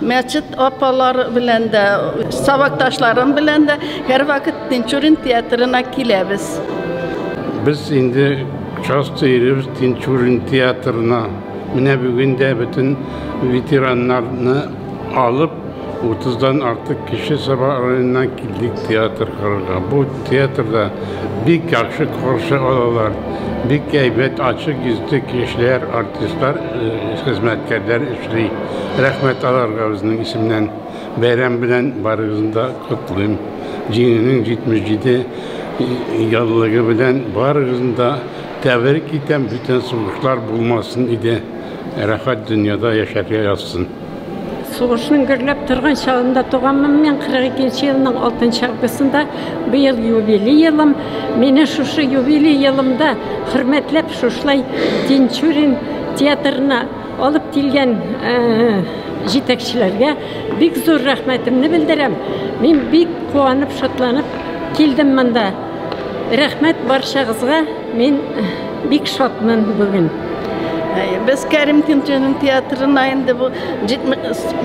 Мәчет апалар белән дә, сабакташларым белән дә һәрвакыт Тинчурин театрына киләбез. Без инде часто йөрибез Тинчурин театрына. Менә бүген дә бөтен ветераннарны алып, 30-дан артык кеше Саба районыннан килдек театр карарга. Бу театрда бик яхшы каршы алалар. Бик әйбәт, ачык йөзле кешеләр, артистлар, хезмәткәрләр эшли. Рәхмәт аларга үзенең исемнән. Бәйрәм белән барыгызны да котлыйм. Җиңүнең 77 еллыгы белән барыгызны да тәбрик итәм, бүтән сугышлар булмасын иде, рәхәт дөньяда яшәргә язсын. Сугышның гөрләп торган чагында туганмын мин, 42 нче елның 6 нчы августында. Быел юбилей елым. Мине шушы юбилей елымда хөрмәтләп шушылай Тинчурин театрына Алып килгән җитәкчеләргә бик зур рәхмәтемне белдерәм. Мин бик куанып, шатланып килдем монда. Рәхмәт барчагызга. Мин бик шатмын бүген. Без Кәрим Кинченин театрына инде бу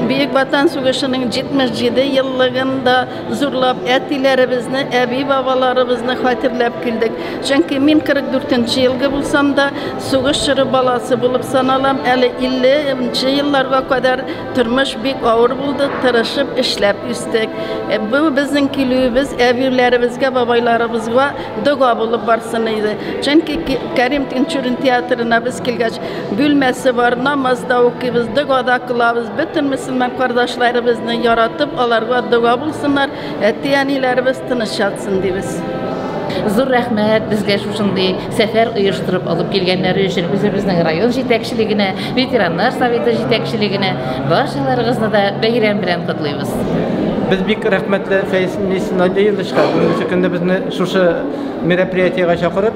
Бөек Ватан сугышының 77 еллыгында Зурлап әтиләребезне, әби-бабаларыбызны хәтерләп килдек. Чөнки мин 44 нче елгы булсам да, сугыш чоры баласы булып саналам. Әле 50 нче елларга кадәр тормыш бик авыр булды, тырышып эшләп үстек. Э, бу безнең килүебез әбиләребезгә, бабайларыбызга дога булып барсын иде. Чөнки Кәрим Тинчурин театрына без килгәч, Бүлмәсе бар, намаз да укыйбыз, дога да кылабыз. Бөтен мөселман кардәшләребезне яратып, аларга дога булсыннар, әти-әниләребез тыныч ятсын дибез. Зур рәхмәт безгә шушындый сәфәр оештырып алып килгәннәре өчен үзебезнең район җитәкчелегенә, ветераннар советы җитәкчелегенә барчаларыгызны да бәйрәм белән котлыйбыз. Без бик рәхмәтле Фәиз Мисиновичка, бүгенге көндә безне шушы мероприятиегә чакырып,